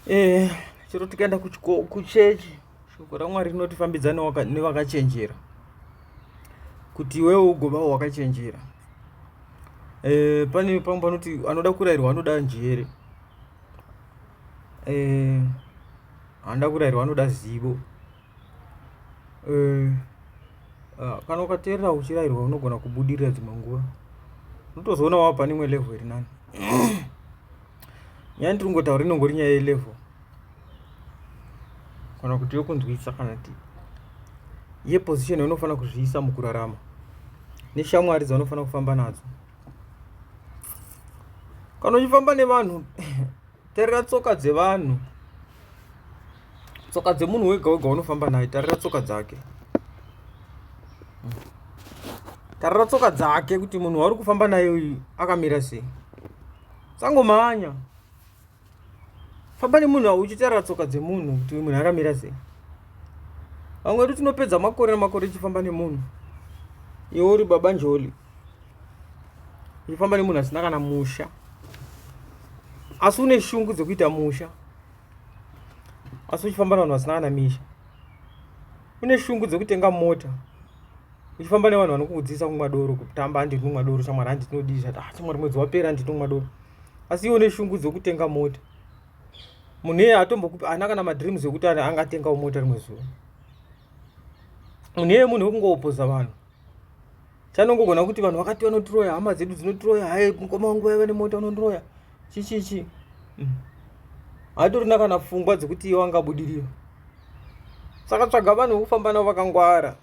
eh, chero tikaenda kuchechi shoko ramwari rinotifambidza nevakachenjera kuti iwewe ugovawo wakachenjera e, pane pamwe panoti anoda kurayirwa anoda njere e, anoda kurayirwa anoda zivo Eh, ah, kana ukateerera uchirairwa unogona kubudirira dzimwe nguva unotozoona wava pane imwe level iri nani nyaya ndiri kungotaura inongori nyaya yelevel kana kuti yokunzwisa kana ti yeposition yaunofanira kuzviisa mukurarama neshamwari dzaunofanira kufamba nadzo kana uchifamba nevanhu terera tsoka dzevanhu tsoka dzemunhu wega wega unofamba naye tarira tsoka dzake tarira tsoka dzake kuti munhu wauri kufamba naye uyu akamira sei sangomhanya famba nemunhu auchitarira tsoka dzemunhu kuti uyu munhu akamira sei vamwe vedu tinopedza makore nemakore tichifamba nemunhu iwe uri baba njoli uchifamba nemunhu asina kana musha asi une shungu dzekuita musha asi uchifamba nevanhu vasina kana misha une shungu dzekutenga mota uchifamba nevanhu vanokuudzisa kumwa doro kutamba handi tinonwa doro shamwari handi tinodii zvati ah shamwari mwedzi wapera handi tinonwa doro asi iwe une shungu dzekutenga mota munhu iye atombokupi ana kana madreams ekuti angatengawo mota rimwe zuva munhu iye munhu wekungowopoza vanhu chanongogona kuti vanhu vakati vanotiroya hama dzedu dzinotiroya haye mukoma wangu vaiva nemota unondiroya chichichi haitorina kana pfungwa dzekuti iye wangabudirira saka tsvaga vanhu vekufamba navo vakangwara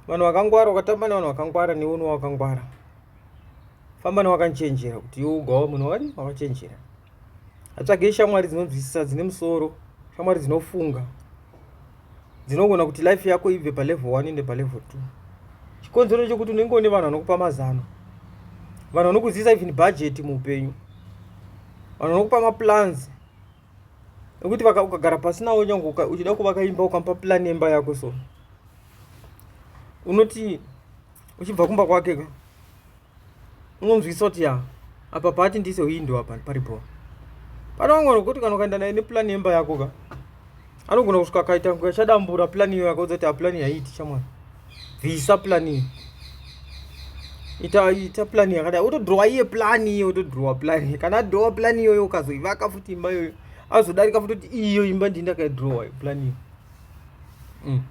vanhu vakangwara ukatamba nevanhu vakangwara newe unowa wakangwara famba newakanochenjera kuti iwe ugawa munhu wakadi wakachenjera atsvagei shamwari dzinonzwisisa dzine musoro shamwari dzinofunga dzinogona kuti life yako ibve palevel one ende palevel two chikonzero ndechekuti unenge une vanhu vanokupa mazano vanhu vanokuzivisa even budget muupenyu vanhu vanokupa maplans ekuti ukagara pasi nawo nyange uchida kuvaka imba ukamupa plan yemba yako so unoti uchibva kumba kwake ka unonzwisa kuti ya apa paati ndiise window apa pari bho pane vamwe vanhu kuti kana ukaenda naye nepulani yemba yako ka anogona kusvika akaita kunge achadambura pulani iyo yakaudza kuti apulani yaiiti chamwana bvisa pulani iyo ita ita pulani yakadai otodhirowa iye pulani iyo otodhirowa pulani kana adhirowa pulani iyoyo ukazoivaka futi imba iyoyo azodarika futi kuti iyo imba ndii ndakaidhirowa pulani iyo mm.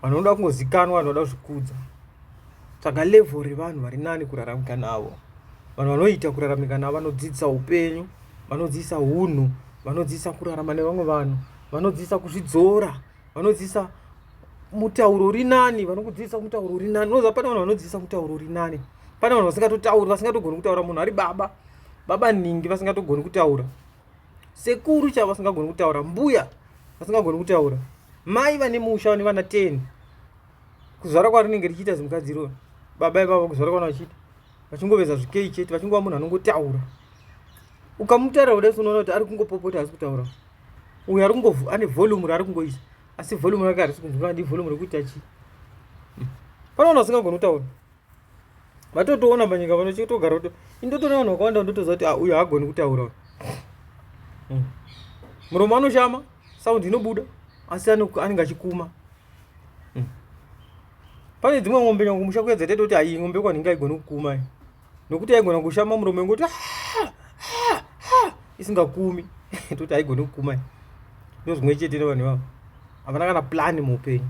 vanhu vanoda kungozikanwa vanhu vanoda kuzvikudza Tsvaga level revanhu vari nani kuraramika navo. Vanhu vanoita kuraramika navo vanodzidzisa upenyu, vanodzidzisa hunhu, vanodzidzisa kurarama nevamwe vanhu, vanodzidzisa kuzvidzora, vanodzidzisa mutauro uri nani, vanokudzidzisa mutauro uri nani. Unoziva pane vanhu vanodzidzisa mutauro uri nani. Pane vanhu vasingatotauri, vasingatogoni kutaura. Munhu ari baba, baba ningi vasingatogoni kutaura. Sekuru chavo vasingagoni kutaura, mbuya vasingagoni kutaura, mai vane musha vane vana 10 kuzvara kwarinenge richiita zimukadzi iroro baba ivavo kuzvara kwana vachiita vachingoveza zvikei chete vachingova munhu anongotaura ukamutaura kudai unoona kuti ari kungopopota asi kutaura uyo ari kungo ane volume raari kungoisa asi volume rake harisi kunzwira ndi volume rekuti achi hmm. panoona usingagoni kutaura vatotoona panyika pano chitogara kuti indotoona vanhu vakawanda vandotoziva kuti ah, uyo haagoni kutaura hmm. muromo anoshama saundi inobuda asi anenge achikuma hmm. pane dzimwe ng'ombe nyangu musha kuya dzataita kuti ayi ng'ombe kwanhinge aigoni kukuma nokuti aigona kushama muromo yengoti ah, ah, isingakumi toti aigoni kukuma ndozvimwe chete nevanhu ivavo havana kana plani muupenyu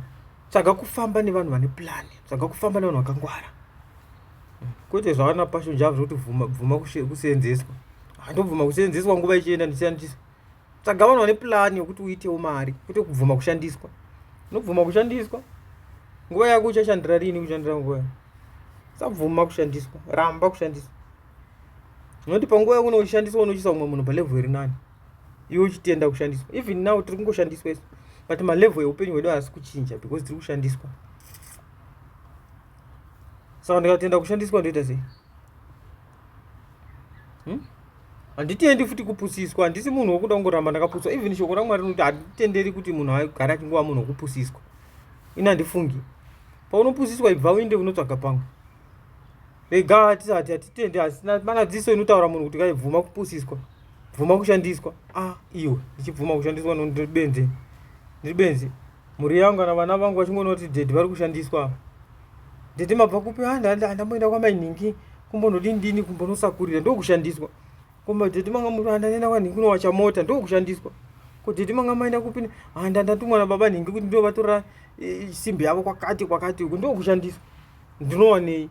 tsvaga kufamba nevanhu vane plan tsvaga kufamba nevanhu vakangwara kwete zvavana passion java zvekuti bvuma bvuma kuseenzeswa handobvuma kuseenzeswa nguva ichienda ndichishandisa tsvaga vanhu vane plan yekuti uitewo mari kwete kubvuma kushandiswa unobvuma kushandiswa nguva yako uchashandira rini kushandira nguva yako sabvuma kushandiswa ramba kushandiswa noti panguva yako unoshandiswa unochisa umwe munhu palevel iri nani iwe uchitenda kushandiswa even now tiri kungoshandiswa isu but malevel eupenyu hwedu haasi kuchinja because tiri kushandiswa saka ndikatenda kushandiswa ndoita sei hmm? handitendi hmm? futi kupusiswa handisi munhu wokuda kungoramba ndakapuswa even shoko ramwari rinoti handitenderi kuti munhu agare achingova munhu wokupusiswa ini handifungi paunopusiswa ibva uinde unotsvaga pamwe rega hatitende asi manadziso inotaura munhu kuti kaibvuma kupusiswa bvuma kushandiswa ah iwe ndichibvuma kushandiswa no ndiri benzi ndiri benzi mhuri yangu kana vana vangu vachingoona kuti dedi vari kushandiswa dedi mabva kupi ah nda- nda- ndamboenda kwamainhingi kumbonodini dini kumbonosakurira ndokushandiswa koma dedi manga muri ah ndanena kwanhingi kunowacha mota ndokushandiswa ko dedi manga maenda kupi ne- ah nda- ndatumwa nababa nhingi kuti ndovatora eh, simbi yavo kwakati kwakati uku ndokushandiswa ndinowanei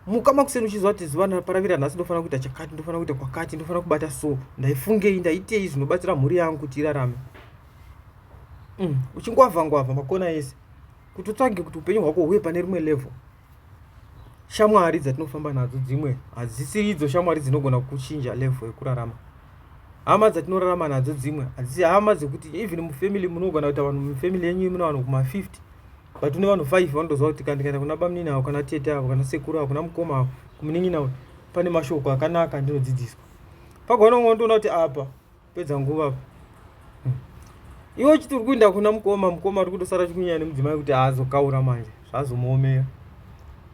muka makuseni uchiziva kuti zuva ndaraparavira nhasi ndofanira kuita chakati ndofanira kuita kwakati ndofanira kubata so ndaifungei ndaitei zvinobatsira mhuri yangu kuti irarame mm. uchingwavha ngwavha makona ese kuti utsvage kuti upenyu hwako huye pane rimwe level shamwari dzatinofamba nadzo dzimwe hadzisiri idzo shamwari dzinogona kuchinja level yekurarama hama dzatinorarama nadzo dzimwe hadzisi hama dzekuti even mufamily munogona kuita vanhu mufamily yenyu mune vanhu kuma 50 but une vanhu five vanotoziva kuti kana ndikaenda kuna bamunini avo kana tete avo kana sekuru avo kuna mukoma avo kumunin'ina uyu pane mashoko akanaka ndinodzidziswa pagona umwe ndoona kuti apa pedza nguva apa hmm. iwe uchiti uri kuenda kuna mukoma mukoma uri kutosara chikunyaya nemudzimai kuti aazokaura manje zvazomuomera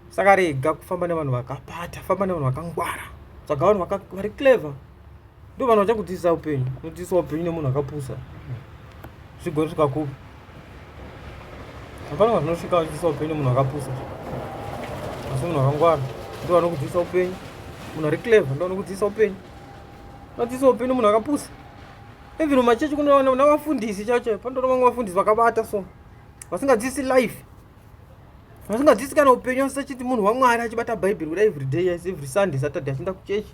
saka rega kufamba nevanhu vakapata famba nevanhu vakangwara tsvaga vanhu vari clever ndo vanhu vachakudzidzisa upenyu unodzidzisa upenyu nemunhu akapusa zvigori zvikakupa hapana vanhu vanosvika vachidzidzisa upenyu nemunhu akapusa asi munhu akangwara ndo vanokudzidzisa upenyu munhu ari clever ndo vanokudzidzisa upenyu unodzidzisa upenyu munhu akapusa even mumachechi kunoona vafundisi chacho pandoona vamwe vafundisi vakabata so vasingadzidzisi life vasingadzidzisi kana upenyu asi achiti munhu wamwari achibata bhaibheri kuda everyday yes every sunday saturday achienda kuchechi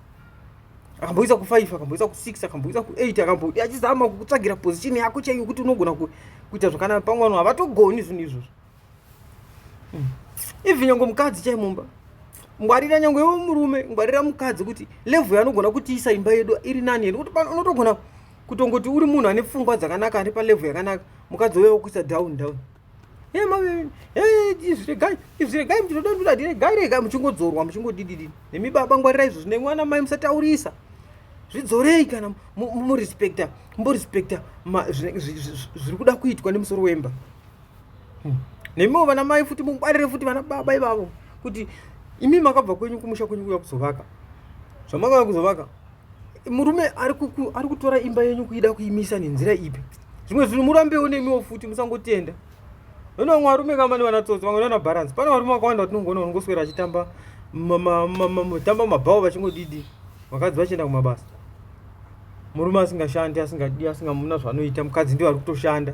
akamboisa ku 5 akamboisa ku 6 akamboisa ku 8 akambodi achizama kukutsvagira position yako chaiyo kuti unogona kuita zvakanaka pamwe vanhu havatogoni zvinhu izvozvo hmm. even nyange mukadzi chai mumba ngwarira nyange iwe murume ngwarira mukadzi kuti level yanogona kutiisa imba yedu iri nani here kuti unotogona kutongoti uri munhu ane pfungwa dzakanaka ane palevel yakanaka mukadzi uye wokuisa down down Hey, mami, hey, izviregai, izviregai muchinodandura ndiregai regai muchingodzorwa muchingodididi. Nemi baba ngwarirai izvo zvine mwana mai musataurisa. Zvidzorei kana murespecta, murespecta zviri kuda kuitwa nemusoro wemba. Hmm. Nemiwo vana mai futi mungwarire futi vana baba ivavo kuti imi makabva kwenyu kumusha kwenyu kuya kuzovaka. Zvamakauya kuzovaka Murume ari kuku ari kutora imba yenyu kuida kuimisa nenzira ipi? Zvimwe zvinhu murambewo nemiwo futi musangotenda. Vana vamwe varume kama ni vanatsotsi vamwe vana balance. Pane varume vakawanda vatinongoona vanongoswera vachitamba tamba mabhawo vachingodidi vakadzi vachienda kumabasa. Murume asingashandi asingadi asingamuna zvanoita mukadzi ndiye ari kutoshanda.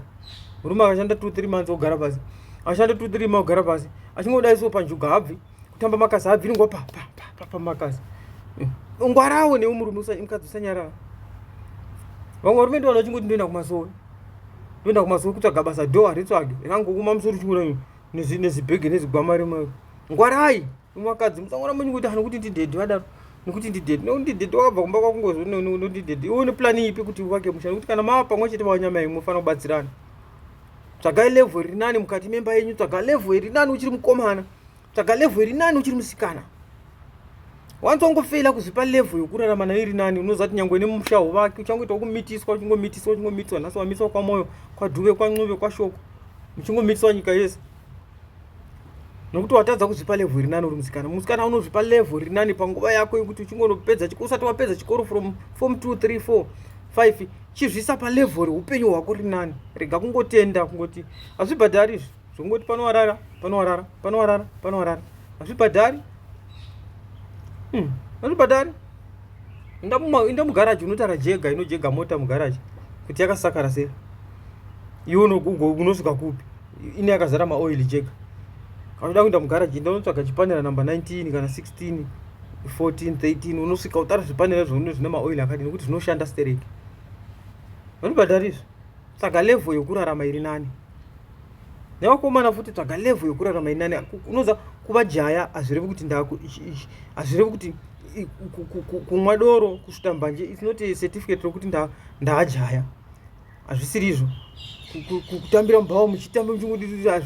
Murume akashanda 2 3 months ogara pasi. Ashanda 2 3 months ogara pasi. Achingodaiso panjuga habvi. Kutamba makazi habviri ngo pa pa pa pa, pa makazi. Eh, ngwarawo newe murume usamukadzi usanyarara. Vamwe varume ndivo vanochingoti ndoenda kumasowe. Ndoenda kumasowe kutsvaga basa do haritsvage. Rangokuma musoro chingura nezi nezi bag nezi gwama remwe. Ngwarai mukadzi musangora munyu kuti hanokuti ndidedi vadaro. Nokuti ndidedi no ndidedi wakabva kumba kwakungozo no no ndidedi. Iwe une plan ipi kuti uvake musha? Nokuti kana mava pamwe chete vanyama imwe fana kubatsirana. tsvagai level iri nani mukati memba yenyu tsvaga level iri nani uchiri mukomana tsvaga level iri nani uchiri musikana wanzi wangofeila kuzvipa level yokurarama nayo iri nani unoziva kuti nyangwe nemushaho vake uchangoita wokumitiswa uchingomitiswa uchingomitiswa nhasi wamiswa kwamwoyo kwadhuve kwancube kwashoko muchingomitiswa nyika yese nokuti watadza kuzvipa level rinani uri musikana musikana unozvipa level rinani panguva yako yekuti uchingonopedza chikoro usati wapedza chikoro from form 2 3 4 5 chizvisa palevel reupenyu hwako rinani rega kungotenda kungoti hazvibhadhari izvi zvekungoti panowarara panowarara panowarara panowarara hazvibhadhari hmm, hazvibhadhari inda mugaraji unotara jega inojega mota mugaraji kuti yakasakara sei iwe unosvika kupi ine yakazara maoil chega anoda kuenda mugaraji ndonotsvaga chipanera number 19 kana 16 14 13 unosvika utara zvipanera zvaune zvine maoil akadi nekuti zvinoshanda stereki vanobhadhara izvi tsvaga level yokurarama iri nani nevakomana futi tsvaga level yokurarama iri nani unoza kuva jaya hazvirevi kuti ndaku hazvirevi kuti kumwa doro kusvuta mbanje its not a certificate rokuti ndaajaya nda hazvisiri izvo kutambira mubhawa muchitamba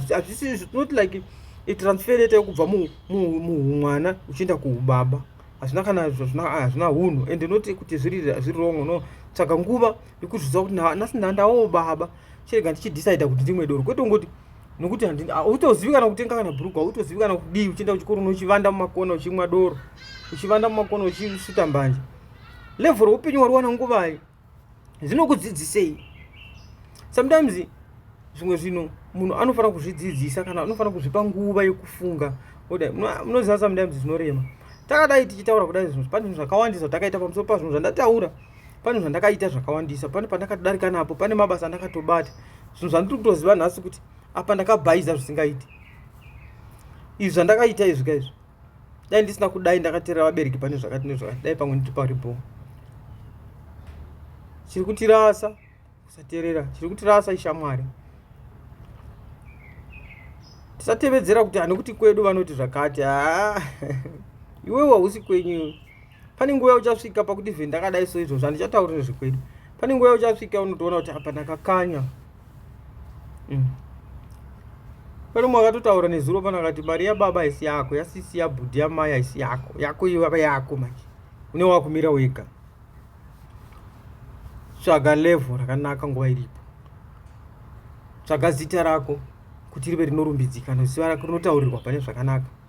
hazvisiri izvo not like itransfer yeta yokubva muhumwana uchienda kuubaba hazvina kana hazvina hunhu and not kuti zviri wrong no tsvaga nguva yekuzviziva kuti nhasi ndandawo baba chirega ndichidecida kuti ndimwe doro kwete ungoti nokuti hautozivi kana kutenga kana bhuruku hautozivi kana kudii uchienda kuchikoro unochivanda mumakona uchimwa doro uchivanda mumakona uchisuta mbanje level reupenyu wari wana nguvai zvinokudzidzisei sometimes zvimwe zvinhu munhu anofanira kuzvidzidzisa kana anofanira kuzvipa nguva yekufunga kudai munoziva sometimes zvinorema takadai tichitaura kudai zvinhu pane zvinhu zvakawandisa takaita pamusoro pazvinhu zvandataura pane zvandakaita zvakawandisa pane pandakadarika napo pane mabasa andakatobata zvinhu zvandiri kutoziva nhasi kuti apa ndakabhaiza zvisingaiti izvi zvandakaita izvi ka izvi dai ndisina kudai ndakateerera vabereki pane zvakati nezvakati dai pamwe nditi pari bho chiri kutirasa kusateerera chiri kutirasa ishamwari tisatevedzera kuti hanokuti kwedu vanoti zvakati haa iwewe hausi kwenyu pane nguva uchasvika pakuti zve ndakadai so izvozvo handichataurire zvekwedu pane nguva uchasvika unotoona kuti apa ndakakanya mm. pane umwe akatotaura nezuro pana akati mari yababa haisi yako yasisi yabhudhi yamai haisi yako yako ivava yako manje une wakumira wega tsvaga levo rakanaka nguva iripo tsvaga zita rako kuti rive rinorumbidzikana ziva rako rinotaurirwa pane zvakanaka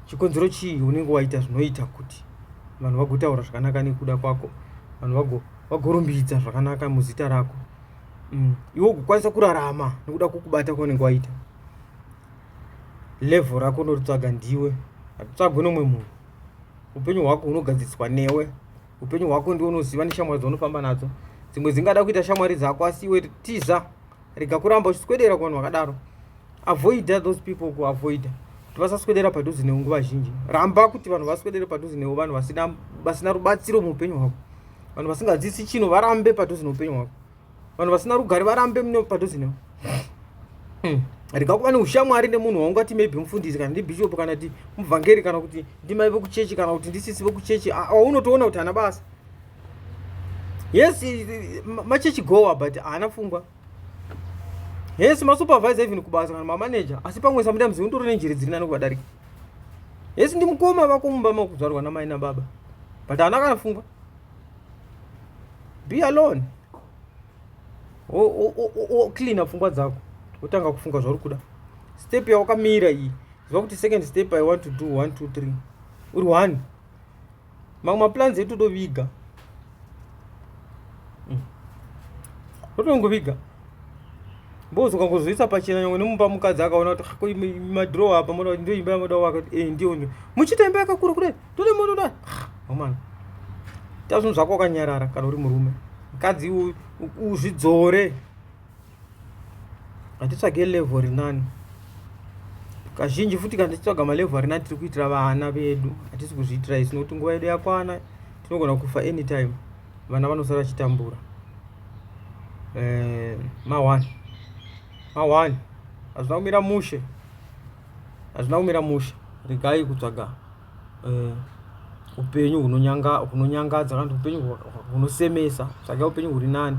chikonzero chii unenge waita zvinoita kuti vanhu vagotaura zvakanaka nekuda kwako vanhu vagorumbidza zvakanaka muzita rako mm. iwe ugokwanisa kurarama nekuda kwokubata kwaunenge waita levhel rako unoritsvaga ndiwe hatitsvagwe nomwe munhu upenyu hwako hunogadziriswa newe upenyu hwako ndiwo unoziva neshamwari dzaunofamba nadzo dzimwe dzingada kuita shamwari dzako asi iwe tiza rega kuramba uchiswedera kuvanhu vakadaro avoida those people kuavoida kuti vasaswedera padhuze newe nguva zhinji ramba kuti vanhu vaswedere padhuze newe vanhu vasina vasina rubatsiro muupenyu hwako vanhu vasingadzisi chino varambe padhuze neupenyu hwako vanhu vasina rugare varambe padhuze newe hmm. rega kuva neushamwari nemunhu waungati maybe mufundisi kana ndibhishopu kana kuti muvhangeri kana kuti ndimai vekuchechi kana kuti ndisisi vekuchechi aunotoona kuti hana basa yes machechi goa but haana pfungwa yes masupervisor even kubasa kana mamaneja asi pamwe sometimes unotore nenjere dziri nani kuvadarika yes ndi mukoma vako mumba makuzvarwa namai nababa but haana kana pfungwa be alone cleana pfungwa dzako wotanga kufunga zvauri kuda step yawakamira iyi ziva kuti second step i want to do one two three uri one mamwe maplans edu totoviga hmm. totongoviga bozi ukangozoisa pachena nyangwe nemumba mukadzi akaona kuti madrow apa moda kuti ndoimba yamoda waka kuti eh ndiyo ndiyo muchiita imba yakakura kudai tode moda kudai amana ta zvinhu zvako wakanyarara kana uri murume mukadzi uzvidzore hatitsvage level rinani kazhinji futi kana tichitsvaga malevel arinani tiri kuitira vana vedu hatisi kuzviitira isu nokuti nguva yedu yakwana tinogona kufa anytime vana vanosara vachitambura eh, mawani mawani hazvina kumira mushe hazvina kumira mushe regai kutsvaga eh, upenyu hunonyangadza kana kuti upenyu hunosemesa tsvaga upenyu huri nani